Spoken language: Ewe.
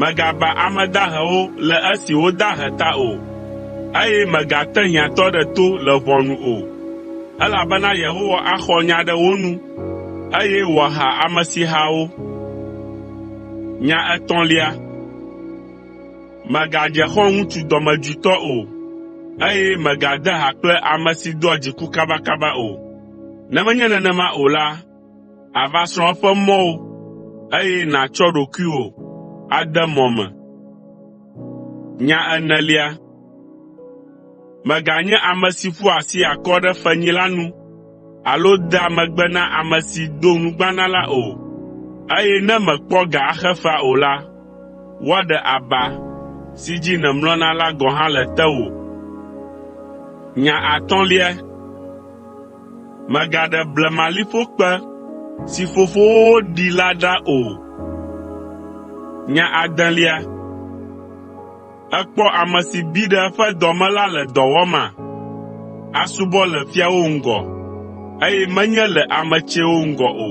Mègaba ame dahewo le esi wodahe ta o, eye mègate hiãtɔ ɖe to le ʋɔnu o, elabena Yehowa axɔ nya ɖe wo nu, eye wòaha amesiha wo. Mègadze xɔ̃ŋutsu dɔmedzoetɔ o, eye mègade ha kple ame si doa dziku kabakaba o, ne menye nenema o la, Àva srɔ̃ eƒe mɔwo, eye nàtsɔ ɖokuiwò ade mɔ me. Nya enelia, mèganye ame si ƒoa asi akɔ ɖe fenyila nu alo dea megbe na ame si do nugbana la o, eye ne mèkpɔ ga axe fea o la, woaɖe aba si dzi nèmlɔna la gɔ̃ hã le tewò. Nya atɔ̃lia “Mègaɖe blemaliƒo kpe si fofowo ɖi la ɖa o.” Nya adelia, “Èkpɔ ame si bi ɖe eƒe dɔ me la le dɔ wɔma? Asubɔ le fiawo ŋgɔ, eye menye le ame tsɛwo ŋgɔ o.”